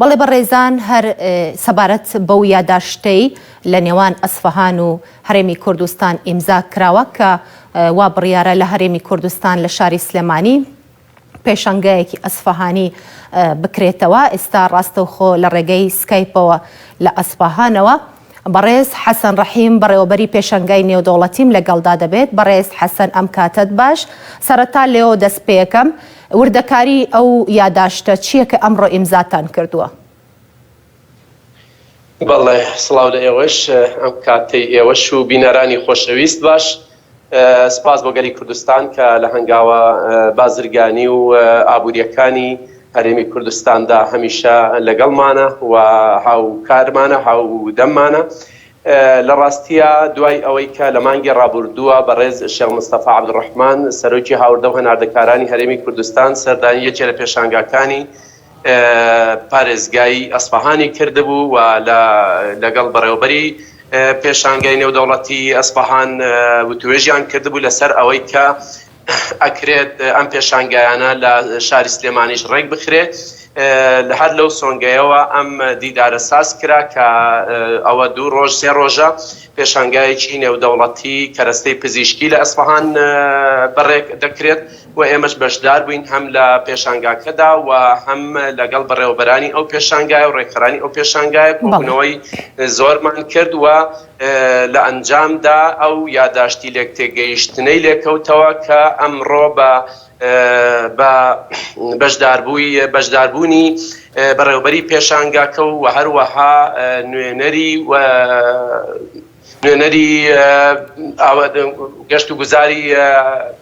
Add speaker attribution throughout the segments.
Speaker 1: بەڵێ بەڕێزان هەر سەبارەت بەو یاداشتەی لە نێوان ئەسفەهان و هەرێمی کوردستان ئیمزا کراوە کە وا بڕیارە لە هەرێمی کوردستان لە شاری سلێمانی پێشەنگایەکی ئەسفەهانی بکرێتەوە ئێستا ڕاستەوخۆ لە ڕێگەی سکایپەوە لە ئەسفەهانەوە بەڕێز حەسەن ڕەحیم بەڕێوەبەری پێشەنگای نێودەوڵەتیم لەگەڵدا دەبێت بەڕێز حەسەن ئەم کاتەت باش سەرەتا لێوە دەست پێکەم وردەکاری ئەو یاداشتە چیە کە ئەمڕۆ ئیمزاتان کردووە؟ بەڵێ سڵاو
Speaker 2: لە ئێوەش ئەم کاتەی ئێوەش و بینەرانی خۆشەویست باش سپاس بۆ گەلی کوردستان کە لە هەنگاوە بازرگانی و ئابوورییەکانی هەرێمی کوردستاندا هەمیشە لەگەڵمانە و هاوکارمانە، هاودەممانە. لە ڕاستییا دوای ئەوەی کە لە مانگی ڕابووردووە بەڕێز شێخ مستەفا عەبدولڕەحمان سەرۆکی هاوردە و هەناردەکارانی هەرێمی کوردستان سەردانی یەکێ لە پێشانگاکانی پارێزگای ئەسفەهانی کردبوو و لەگەڵ بەڕێوەبەری پێشانگای نێودەوڵەتیی ئەسفەهان وتووێژیان کردبوو لەسەر ئەوەی کە ئەکرێت ئەم پێشانگایانە لە شاری سلێمانیش ڕێک بخرێ هەر لەو سۆنگەیەوە ئەم دیدارە ساز کرا کە ئەوە دوو ڕۆژ سێ ڕۆژە پێشانگایەکی نێودەوڵەتیی کەرەستەی پزیشکی لە ئەسفەهان بەڕێک دەکرێت. و ئێمەش بەشدار بووین هەم لە پێشانگاکەدا و هەم لەگەڵ بەڕێوەبەرانی ئەو پێشانگایە و ڕێکخەرانی ئەو پێشانگایە کۆبوونەوەی زۆرمان کرد و لە ئەنجامدا ئەو یاداشتی لێکتێگەیشتنەی لێکەوتەوە کە ئەمڕۆ بە بە بەشداربووی بەشداربوونی بەڕێوەبەری پێشانگاکە و هەروەها نوێنەری و نوێنەری گەشت و گوزاری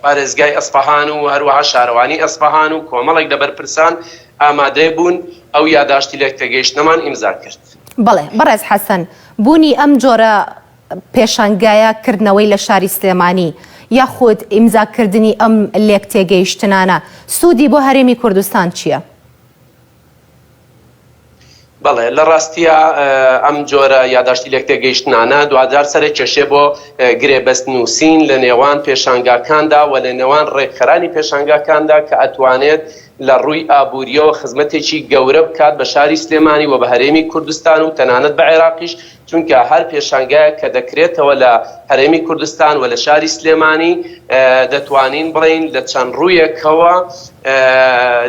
Speaker 2: پارێزگای ئەسفەهان و هەروەها شارەوانی ئەسفەهان و کۆمەڵێک لە بەرپرسان ئامادەی بوون ئەو یاداشتی لێکتێگەیشتنەمان ئیمزا کرد. بەڵێ بەڕێز
Speaker 1: حەسەن، بوونی ئەم جۆرە پێشانگایە کردنەوەی لە شاری سلێمانی یاخود ئیمزا کردنی ئەم لێکتێگەیشتنانە سوودی بۆ هەرێمی کوردستان چییە؟
Speaker 2: بەڵێ لە ڕاستیا ئەم جۆرە یاداشتی لێکتێگەیشتنانە دواجار سەرئەکێشێ بۆ گرێبەست نووسین لە نێوان پێشانگاکاندا و لە نێوان ڕێکخەرانی پێشانگاکاندا کە ئەتوانێت لە ڕووی ئابوورییەوە خزمەتێکی گەورە بکات بە شاری سلێمانی و بە هەرێمی کوردستان و تەنانەت بە عێراقیش چونکە هەر پێشانگایەک کە دەکرێتەوە لە هەرێمی کوردستان و لە شاری سلێمانی دەتوانین بڵێین لە چەند ڕوویەکەوە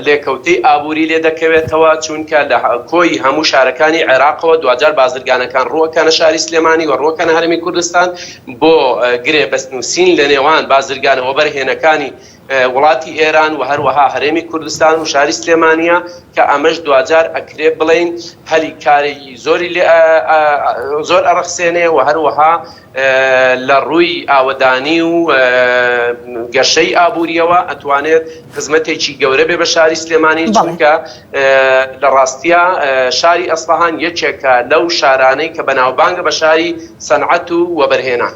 Speaker 2: لێکەوتەی ئابووری لێ دەکەوێتەوە چونکە لە کۆی هەموو شارەکانی عێراقەوە دواجار بازرگانەکان ڕووەکەنە شاری سلێمانی و ڕووەکەنە هەرێمی کوردستان بۆ گرێبەست نووسین لە نێوان بازرگانە وەبەرهێنەکانی وڵاتی ئێران و هەروەها هەرێمی کوردستان و شاری سلێمانیە کە ئەمەش دواجار ئەکرێ بڵێین هەلی کارێکی زۆری لێ زۆر ئەڕەخسێنێ و هەروەها لە ڕووی ئاوەدانی و گەشەی ئابووریەوە ئەتوانێت خزمەتێکی گەورە بێ بە شاری سلێمانی چونکە لە ڕاستە شاری ئەسفەهان یەکێکە لەو شارانەی کە بەناوبانگە بە شاری سەنعەت و وەبەرهێنان.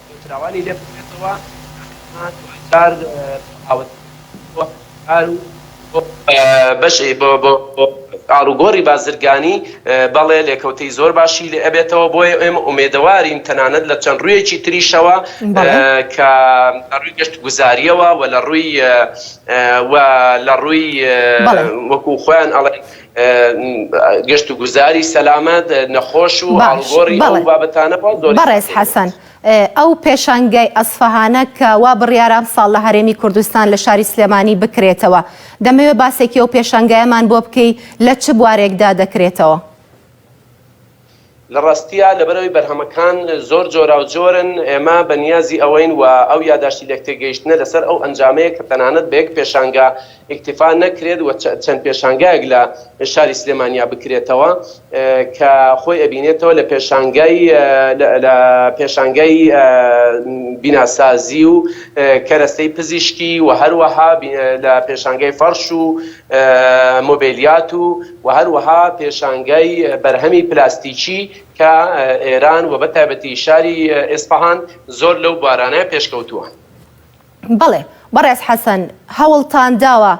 Speaker 2: نێوتراوانی لێ بکرێتەوە ئەمە دوای جار بۆ ئاوەدانکردنی بۆ هەنجار و بۆ بەشی بۆ بۆ ئاڵوگۆڕی بازرگانی بەڵێ لێکەوتەی زۆر باشی لێ ئەبێتەوە بۆیە ئێمە ئومێدەوارین تەنانەت لە چەند ڕوویەکی تریشەوە کە لە ڕووی گەشتوگوزاریەوە وە لە ڕووی وە لە ڕووی وەکو خۆیان ئەڵێن گەشت و گوزاری سەلامەت، نەخۆش و ئاڵوگۆڕی ئەو بابەتانە باس زۆری سەیرە. بەڕێز حەسەن،
Speaker 1: ئەو پێشانگای ئەسفەهانە کە وا بڕیارە ئەمساڵ لە هەرێمی کوردستان لە شاری سلێمانی بکرێتەوە، دەمەوێ باسێکی ئەو پێشانگایەمان بۆ بکەی لە چ بوارێکدا دەکرێتەوە؟ لە
Speaker 2: ڕاستیا لەبەرئەوەی بەرهەمەکان زۆر جۆراوجۆرن، ئێمە بە نیازی ئەوەین و ئەو یاداشتی لێکتێگەیشتنە لەسەر ئەو ئەنجامەیە کە تەنانەت بە یەک پێشانگا ئیکتیفا نەکرێت و چەند پێشانگایەک لە شاری سلێمانیا بکرێتەوە کە خۆی ئەبینێتەوە لە پێشانگای لە پێشانگای بیناسازی و کەرەستەی پزیشکی و هەروەها لە پێشانگای فەڕش و مۆبێلیات و و هەروەها پێشانگای بەرهەمی پلاستیکی کە ئێران و بەتایبەتی شاری ئێسفەهان زۆر لەو بوارانە پێشکەوتووە.
Speaker 1: بەڵێ بەڕێز حەسەن، هەوڵتان داوە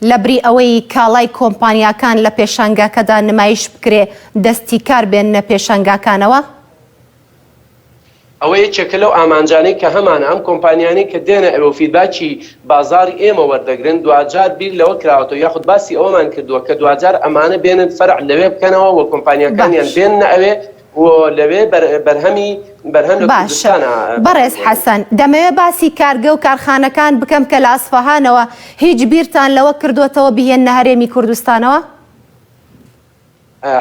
Speaker 1: لەبری ئەوەی کاڵای کۆمپانیاکان لە پێشانگاکەدا نمایش بکرێ، دەستی کار بێننە پێشانگاکانەوە؟
Speaker 2: ئەوە یەکێکە لەو ئامانجانەی کە هەمانە، ئەم کۆمپانیانەی کە دێنە ئێرە و فیدباکی بازاڕی ئێمە وەردەگرن دواجار بیر لەوە کراوەتەوە یاخود باسی ئەوەمان کردووە کە دواجار ئەمانە بێنن فەرع لەوێ بکەنەوە و کۆمپانیاکانیان بێننە ئەوێ و لەوێ بەرهەمی بەرهەم لە کوردستان باشە بەڕێز حەسەن
Speaker 1: دەمەوێت باسی کارگە و کارخانەکان بکەم کە لە ئەسفەهانەوە هیچ بیرتان لەوە کردووەتەوە بیهێننە هەرێمی کوردستانەوە؟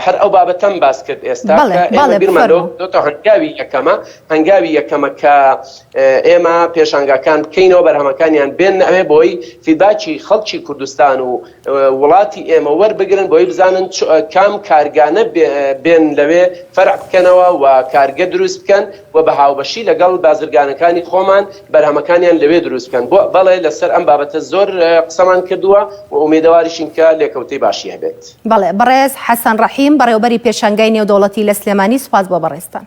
Speaker 2: هەر ئەو بابەتەم باس کرد ئێستا کە ئێمە بیرمان لەوە کردۆتەوە هەنگاوی یەکەمە، هەنگاوی یەکەمە کە ئێمە پێشانگاکان بکەینەوە، بەرهەمەکانیان بێننە ئەوێ بۆی فیدباکی خەڵکی کوردستان و وڵاتی ئێمە وەربگرن بۆی بزانن کام کارگانە بێن لەوێ فەرع بکەنەوە و کارگە دروست بکەن و بە هاوبەشی لەگەڵ بازرگانەکانی خۆمان بەرهەمەکانیان لەوێ دروست بکەن، بۆ بەڵێ لەسەر ئەم بابەتە زۆر قسەمان کردووە و ئومێدەواریشین کە لێکەوتەی باشی هەبێت. بەڵێ
Speaker 1: بەڕێز حەسەن
Speaker 2: ڕەحیم
Speaker 1: بەڕێوەبەری پێشانگای نێودەوڵەتی لە
Speaker 2: سلێمانی
Speaker 1: سوپاس بۆ بەڕێزتان.